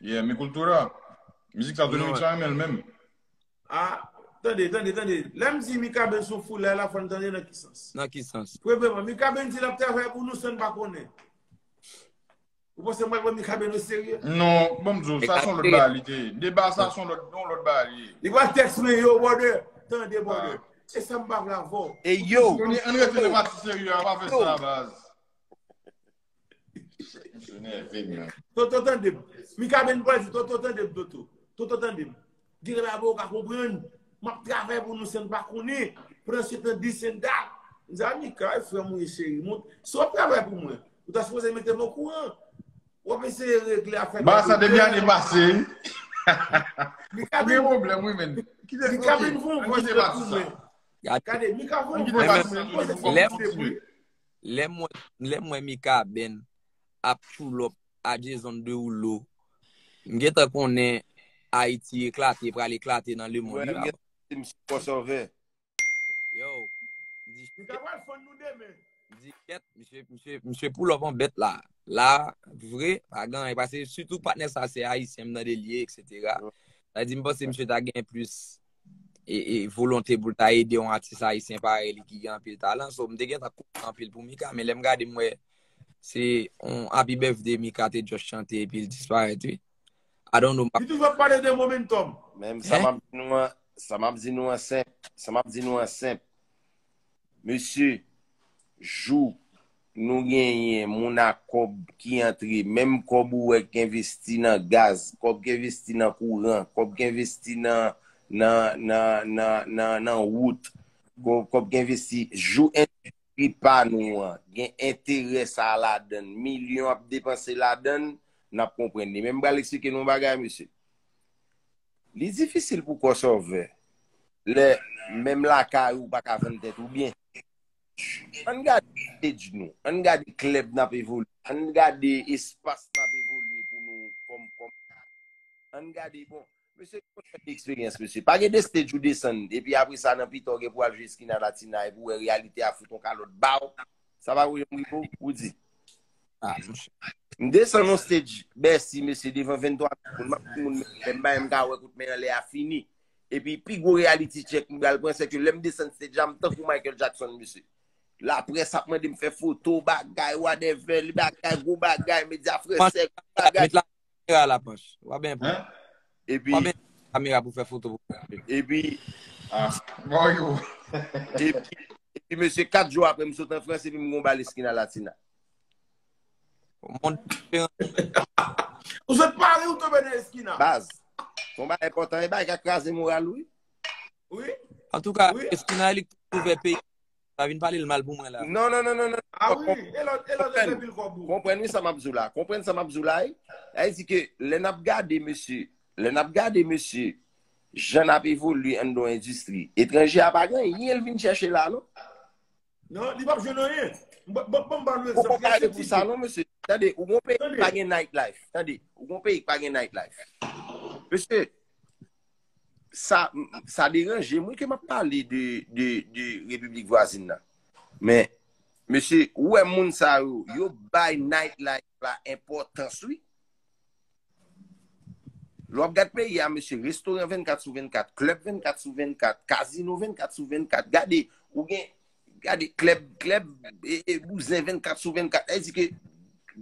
Yeah, mi cultura. Mizik sa Dominik la renmen l menm. Ah, tande, tande, tande. Lè m di Mikaben son foulay la, fò n tande nan ki sans. Nan ki sans? Premyèman, Mikaben di l ap travay pou nou san n pa konnen. Ou panse m pral pran Mikaben o serye? Non, ban m di w, sa son lòt bagay li te ye. Deba sa son lòt, yon lòt bagay li ye. Li pral tèks mwen, yo bòdè, tande bòdè. Se sa m pa vle avè w. Ey yo! An n rete nan pati serye a, pa fè sa baz. Msye nève m nan. Toto tande m. Mikaben pral di Toto tande m Toto. Toto tande m. Gen lè bagay ou pa konprann. M ap travay pou nou san n pa konnen. Pandan se tan Disenna. M di a Mika e frè m ou ye cheri m. Si w ap travay pou mwen. Ou ta sipoze mete m okouran. W ap eseye regle afè nou. Ba sa depi ane pase. Mikaben. Ou gen pwoblèm wi menn. Mikaben fon vwa jwèt pou mwen. Gade Mikaben fon vwa jwèt pou mwen. Lèm wè mikaben ap tchoulop a Jason Derulo m gentan konnen ayiti eklate pral eklate nan le mond wi papa. Misye poulop an bèt la. La vre pa gen anyen pase sitou patnè sa se ayisyen m tande l ye etc. Sa di m panse misye ta gen plis. e volonte pou l ta ede yon atis ayisyen parèy li ki gen anpil talan. So, m te gen tan kontan anpil pou Mika, men lè m gade m wè se yon Happy Birthday Mika te just chante epi l disparèt wi. I don't know. Li toujou ap pale de momentum. Men sa m ap di nou an, sa m ap di nou an senp, sa m ap di nou an senp. Mesye, jou nou genyen moun a kòb ki antre, menm kòb ou wè k envesti nan gaz, kòb k envesti nan kouran, kòb k envesti nan wout, kòb k envesti, jou endistri pa nou an gen enterè sa a ladan l, milyon ap depanse ladan l, n ap konprann li. Men m pral eksplike nou yon bagay mesye. Li difisil pou kò sòvè lè menm lakay ou pa ka vann tèt ou byen. Ann gade page nou, ann gade klèb n ap evolye, ann gade espas n ap evolye pou nou kòm kòmantè. Ann gade bon, mesye gen yon seri de eksperyans mesye. Pa gen 2 stage ou desann epi apre sa nan pita w gen pou w al jwe Esquina Latina epi w wè reyalite a fout yon kalòt ba w. Sa pa wè yon mwen pou w di? M desann on stage Bèsi mesye devan 23 mil moun map di moun men lè m bay m ka wè kout men an lè a fini epi pi gwo reality check m pral pran sèke lè m desann stage la m tankou Michael Jackson mesye laprès ap mande m fè foto bagay wadèvè li bagay gwo bagay medya fransè gwo bagay. Met la kamera la Panch w ap byen pran w ap byen pran kamera pou fè foto pou mwen epi epi mesye 4 jou aprè m sot an Frans epi m gen yon bal Esquina Latina. Ou sot pari ou tobe nan eskina. Baz. Bon ba e kontan e ba e ka kraze moral ou. Oui. An tou ka eskina elik pou ve peyi. Pa vin pale l mal pou mwen la. Non non non non non. A oui. E lò e lò de vil kòbou. Konpren ni sa map zou la. Konpren sa map zou la e. A e di ke le nap gade mesye. Le nap gade mesye. Jan nap evolye an do endistri. Etranje a pa gen. Yen vin chèche la non. Non, li pap jwenn anyen. Bon ban lè zan. Ou pa ale pou sa non, mesye. Tande, ou gon peyi pa gen night life. Tande, ou gon peyi pa gen night life. Mesye, sa deranje mwen ke map pale de republik vwazin nan. Men, mesye, ou e moun sa yo, yo bay night life. la enpòtans wi. Lè w ap gad peyi a mesye, restoran 24 sou 24, klèb 24 sou 24, kazino 24 sou 24, gade, ou gen, gade klèb, klèb, e bouzen 24 sou 24, sa vle di ke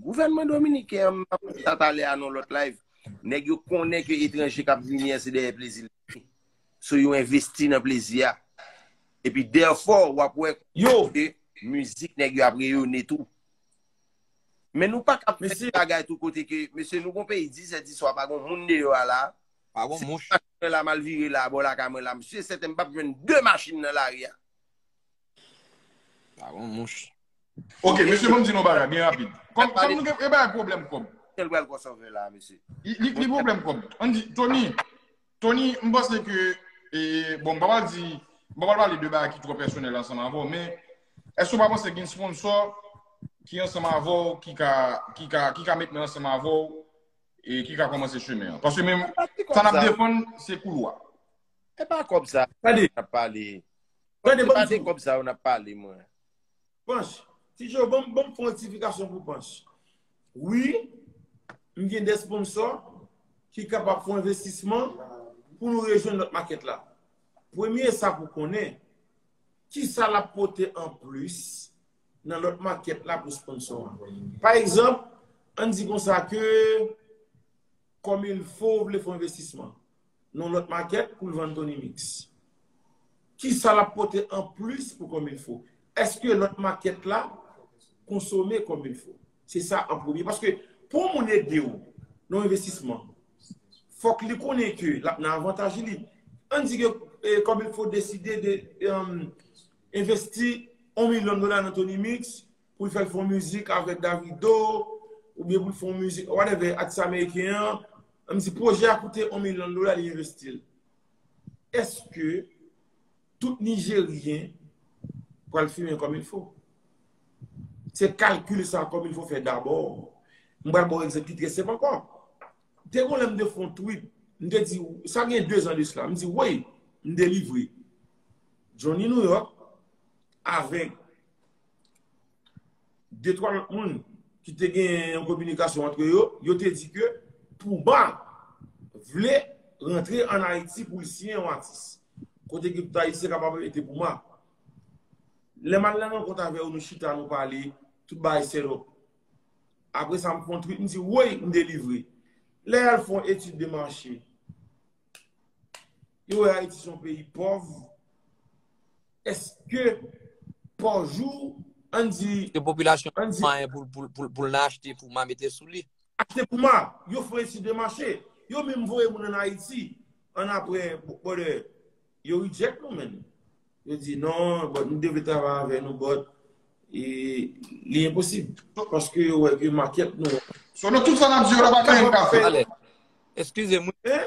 gouvènman dominiken an, m ap pale de sa talè a nan yon lòt live, nèg yo konnen ke etranje k ap vini an se dèyè plezi l ap vini. So yo envesti nan plezi a. Epi therefore w ap wè ke mizik nèg yo ap reyone tou. Men nou pa kap fè ti bagay tou kote ke, mesye nou gon peyi 10 zè di swa pa gon moun deyò a la. Pa gon mouch. Si machin mwen la mal vire la bò lakay mwen la m si sèten m pap jwenn 2 machin nan lari a. Pa gon mouch. Ok mesye banm di nou bagay byen rapid. Kòm kòm nou gen e bay pwoblèm kòb. Tel pral kò sovè la mesye. Li pwoblèm kòb. Ann di Tony. Tony, m panse ke, bon m pa pral di, m pa pral pale de bagay ki twò pèsonèl ansanm avè w, men èske w pa panse gen sponsò ki ansanm avè w ki ka, ki ka, ki ka met men ansanm avè w e ki ka kòmanse chemen an? Paske men, sa n ap defann, se koulwa. E pa kòb sa, n ap pale. Tande, tande, banm di w. E pa de kòb sa yo n ap pale mwen. Panch, ti jo banm banm fon rectification pou panch. Wi, m gen 2 sponsor ki kapab fon envestisman pou nou rejwenn lòt makèt la. Premye sa pou konnen, ki sa lap pote an plis nan lòt makèt la pou sponsor an. Pa egzanp, an di konsa ke Comme il faut vle fon envestisman. nan lòt makèt pou l vann Tony Mix? Kisa l ap pote an plis pou Kòmilfo? Eske lòt makèt la konsome Kòmilfo? Se sa an premye. Paske pou yon moun ede w nan yon envestisman, fòk li konnen ke l ap nan avantaj li. An di ke Kòmilfo deside de envesti 1 milyon dola nan Tony Mix, pou l fè l fè yon mizik avèk Davido, ou byen pou l fè yon mizik, whatever, atis ameriken an, an m di pwojè a koute yon milyon dola li envesti l. Eske tout Nijeryen pral fimen kòm il fo? Se kalkil sa kòm il fo fè dabò. M pral ba w egzanp ki trè senp ankò. Te gon lè m te fè yon tweet, m te di, sa gen 2 zan de sla, m di wey, m delivre Johnny New York avèk 2, 3 lòt moun ki te gen yon kominikasyon antre yo, yo te di ke Pouba vle rantre an Ayiti pou li siyen yon atis. Kote ki tout Ayisyen kapab rete Pouba. Lè m al nan rankont avè yo, nou chita, nou pale, tout bagay sèlop. Apre sa m fon trip, m di, woy, m delivre. Lè y al fon etid de mache. Yo wè Ayiti son peyi pòv. Eske pa jou an di. Ke popilasyon pa mwayen pou l nan achte pou ma mete sou li. Achte pou ma. Yo fè etid de mache. Yo menm voye moun an Ayiti. An apre bòdè. Yo reject nou menm. Yo di non bòt nou devle travay avè nou bòt. E li enposib. Paske yo wè ke maket nou. Son nou tout sa n ap di yo la pa gen moun ka fè. Eskize mwen.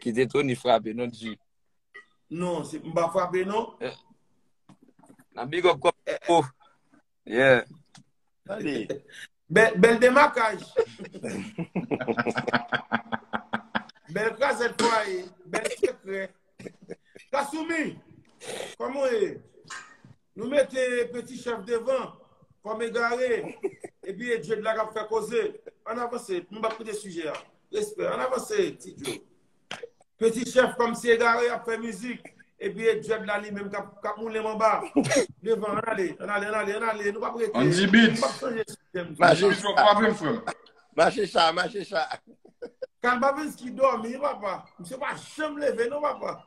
Kite Tony frape non G. Non, se m pa frape non. Nan big up kòm se fo. Yeah. Tande. Bèl demakaj. Bèl krazèt fwaye. Bèl sekrè. Kasumi, kòman ou ye? Nou mete peti chèf devan kòm egare epi e Djed la kap fè koze an avanse nou pap kite sijè a respè an avanse ti Djed peti chèf kòm si egare ap fè mizik epi e Djed la li menm kap moulen manba devan an ale an ale an ale an ale nou pap rete an di bit mache chwa pa vin frèm mache chwa mache chwa kalbavenski dòmi papa misye pa janm leve non papa.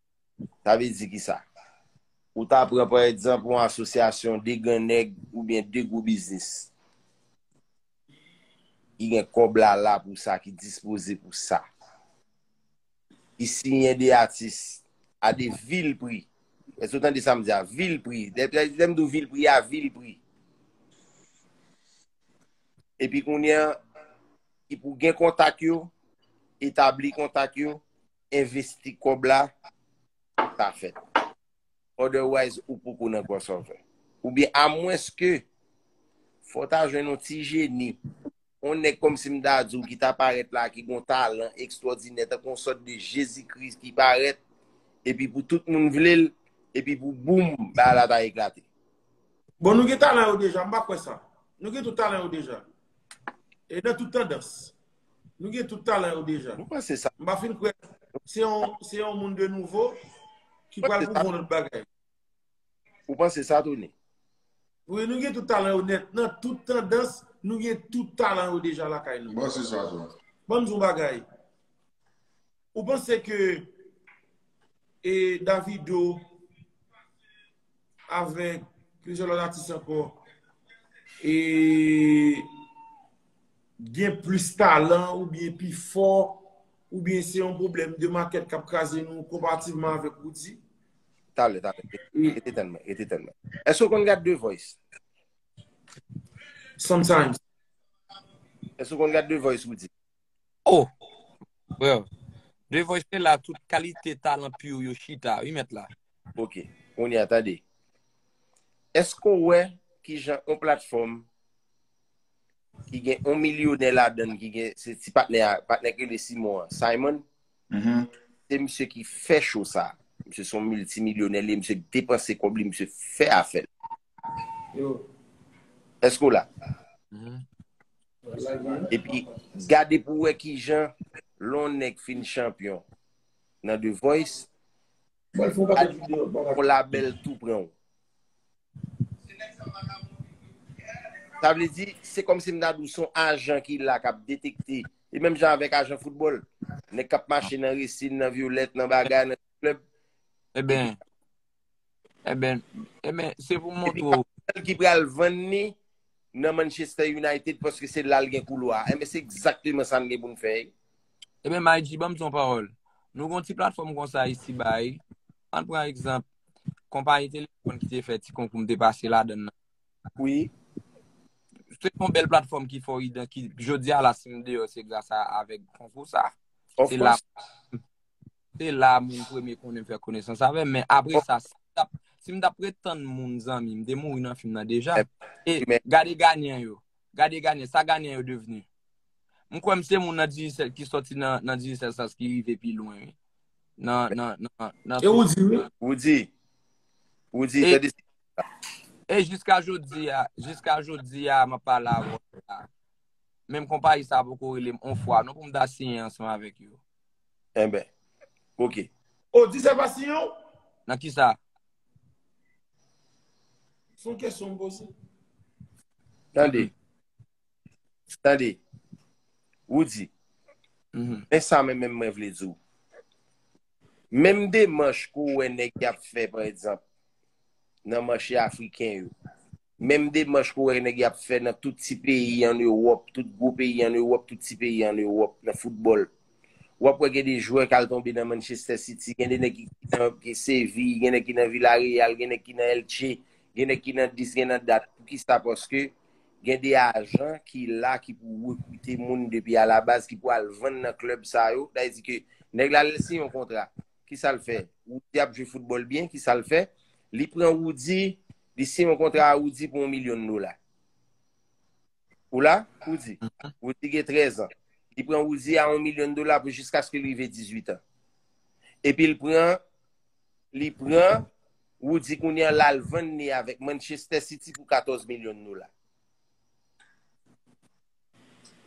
Sa vle di ki sa? Ou ta pran pa egzanp yon asosyasyon 2 gran nèg oubyen 2 gwo biznis ki gen kòb la la pou sa, ki dispoze pou sa. Ki siyen 2 atis a 2 vil pri. Èske ou tande sa m di a? Vil pri. Lè m di w vil pri a, vil pri. Epi kounye a, ki pou gen kontak yo, etabli kontak yo, investi kob la sa fèt otherwise ou poko nan crossover ou byen a mwens ke fò ta jwenn yon ti jeni yon nèg kòm si m ta di w ki ta parèt la ki gon talan ekstwòdinè tankou yon sòt de jezi kris ki parèt epi pou tout moun vle l epi pou boum bagay la ta eklate Bon nou gen talan yo deja m pa kwè sa nou gen tout talan yo deja e nan tout tandans. Nou gen tout talan yo deja. Mwen panse sa. Mwen pa fin kwe. Se yon moun de nouvo ki pral pou moun lout bagay. Mwen panse sa Tony. Mwen nou gen tout talan yo net. Nan tout tandans, nou gen tout talan yo deja la kay nou. Mwen panse sa Tony. Mwen mzou bagay. Mwen panse ke e Davido avek plijelon atis anko e gen plis talan oubyen pi fò oubyen se yon pwoblèm de makèt k ap kraze nou konpativman avèk Roody? Talè, talè. Rete tande mwen, rete tande mwen. Èske ou konn gade The Voice? Sometimes. Èske ou konn gade The Voice, Roody? Oh! Freo, The Voice se la tout kalite talan pure yo chita wi mèt la. Ok, kounye a tande. Èske ou wè kijan yon platfòm ki gen on milyonè ladan ki gen, se ti patnè a, patnè ki le Simon an, Simon, mm-hmm. se msye ki fè cho sa. Msye son multimilyonè li, msye depanse kob li, msye fè a fè. Yo. Esko la? Mm-hmm. E pi, gade pou wè ki jan lon nèk fin chanpyon nan The Voice, Mwen fon pa video. Pou la bel tou pran ou. Sa vle di, se kom si mna dou son ajan ki la kap detekte. E menm jan avek ajan football. Nek kap mache nan resin, nan violet, nan bagay, nan club. E ben, e ben, e ben, se pou mwen tou. E pi kapal ki pral vann ni nan Manchester United paske se lal gen koulwa. E men se exactement sa mne pou mfey. Ebyen Maiji banm di yon pawòl. Nou gon ti platfòm konsa isi ba wi. Ann pran egzanp konpayi telefòn ki te fè ti konkou m te pase ladann nan. Wi. Se yon bèl platfòm ki fè w idan ki jodi a la si m deyò se gras a avèk konkou sa. Of kòs. Se la moun premye konnen m fè konesans avè m men apre sa si m t ap ret tann moun zanmi m te mouri nan fim nan deja. E gade ganyan yo. Gade Ghanien, sa Ghanien yo devenu? M kwè m se moun nan Digicel ki soti nan Digicel Sans ki rive pi lwen wi. Nan, nan, nan, nan. E Roody wi? Roody. Roody, tande sa. E jiska jodi a, jiska jodi a m ap pale avè w la, menm konpayi sa poko rele m on fwa non pou m ta siyen ansanm avèk yo. Enben. Ok. Ou di sa pa siyen w? Nan kisa? Son kesyon m poze. Tande. Tande. Roody. Men sa men men mwen vle di w. Menm demanch ke w wè nèg y ap fè pa egzanp nan mache afriken yo. Menm demanch pou wè nèg y ap fè nan tout ti peyi ann Ewòp, tout gwo peyi ann Ewòp, tout ti peyi ann Ewòp nan foutbòl. W ap wè gen de jwè k al tonbe nan Manchester City, gen de nèg ki nan Séville, gen nèg ki nan Villarreal, gen nèg ki nan Elche, gen nèg ki nan dis, gen nan dat. Poukisa? Paske gen de ajan ki la ki pou rekrite moun depi alabaz, ki pou al vann nan klèb sa yo. Sa vle di ke nèg la lè l siyen yon kontra, ki sa l fè? Roody ap jwe foutbòl byen, ki sa l fè? Li pran Roody, li siyen yon kontra a Roody pou yon milyon dola. Ou la, Roody? Roody gen 13 an. Li pran Roody a yon milyon dola pou jiskaske li rive 18 an. Epi l pran, li pran Roody kounye an la l vann li avèk Manchester City pou 14 milyon dola.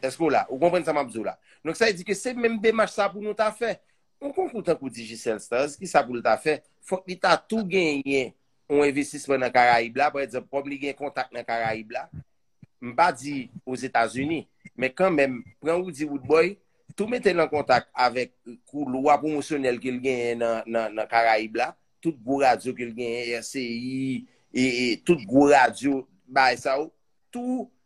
Èske ou la? Ou konprann sa m ap di w la? Donk sa vle di ke se menm demach sa pou nou ta fè. Yon konkou tankou Digicel Stars, ki sa pou l ta fè? Fòk li ta tou genyen yon envestisman nan Karayib la, pa egzanp, kòm li gen kontak nan Karayib la, m pa di Ozetazini, men kan menm, pran Roody Roodboy, tou mete l an kontak avèk koulwa pwomosyonèl ke l genyen nan Karayib la, tout gwo radyo ke l genyen, RCI, e tout gwo radyo bay sa yo, tou.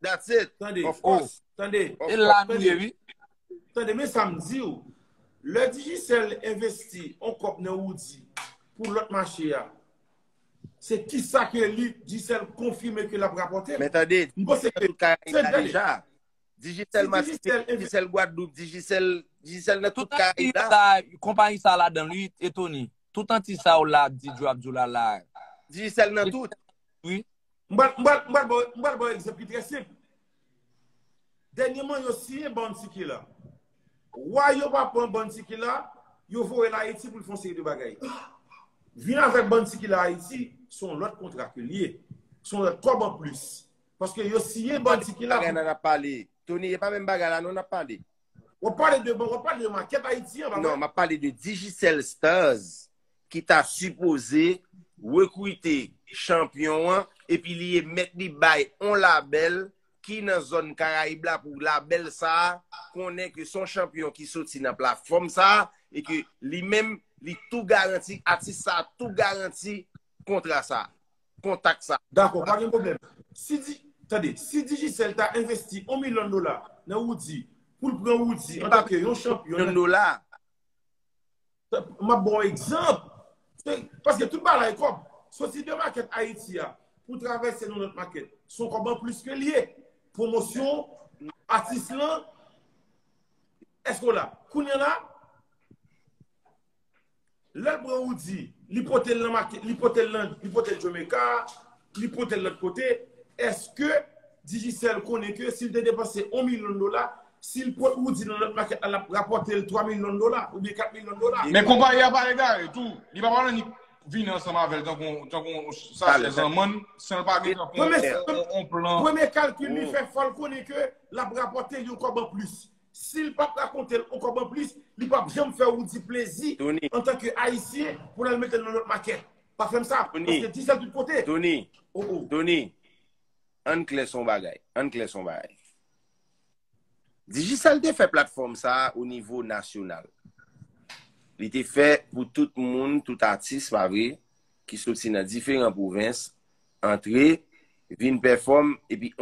That's it. Tande, Of oh. course. Tande. Of E la nou ye wi. Tande, men sa m di w. Lè Digicel envesti on kòb nan Roody pou lòt mache a, se kisa ke li, Digicel, konfime ke l ap rapòte? Men tande, M panse Digicel ke, nan tout Karayib la tande. deja. Digicel Si Digicel Masisi, enve- Digicel Gwadloup, Digicel, Digicel nan tout Tout anti Karayib la. sa, konpayi sa ladan l wi, e Tony. Tout anti sa w la ap di, Djo ap di w la la. Digicel nan tout. Wi. M pral ba w egzanp ki trè senp. Dènyeman yo siyen Bounty Killer. Wa yo pa pran Bounty Killer, yo voye l Ayiti pou l fè yon seri de bagay. Vin avèk Bounty Killer Ayiti, se yon lòt kontra ke l ye. Se yon lòt kòb anplis. Paske yo siyen Bounty Killer. Bagay nan n ap pale. Tony, e pa menm bagay la non n ap pale. Wap pale de bon, wap pale de maket Ayiti an, pa mwen? Non, map pale de Digicel Stars ki ta sipoze rekrite chanpyon an epi li emèt li bay on labèl ki nan zòn Karayib la pou labèl sa a konnen ke son chanpyon ki soti nan platfòm sa a e ke li menm li tou garanti, atis sa a tou garanti kontra sa a. kontak sa. Dakò, pa gen pwoblèm. Si di, tande, si Digicel ta envesti yon milyon dola nan Roody, pou l pran Roody an tanke yon chanpyon. Yon dola. M ap ba w egzanp. Paske tout bagay kòb. Soti de makèt Ayiti a pou travèse nan lòt makèt, se yon kòb anplis ke l ye. Pwomosyon atis lan. Èske w la? Kounye a la. Lèl pran Roody li potel nan make li potel nan li potel Jamaica li potel lòt kote eske Digicel konnen ke sil te depanse 1 milyon dola sil pot Roody nan lòt makèt la lap rapòtel 3 milyon dola oubyen 4 milyon dola. Men konpayi a pa egare tou li pa pral annik vini ansanm avèl tankou tankou yon sachè zanmann sanl pa gen tankou yon plan. Premye kalkil li fè fòl konnen ke lap rapòtel yon kòb anplis Sil pap rakontel ankò anplis li pap janm fè Roody plezi antan ke ayisyen pou lal metel nan lòt makè. Pa fèm sa paske di sal tout kote. Tony Tony ann klè son bagay ann klè son bagay. Digicel te fè platfòm sa o nivo nasyonal. Li te fè pou tout moun tout atis pa vre ki soti nan diferan pwovens antre vin pèfòm epi.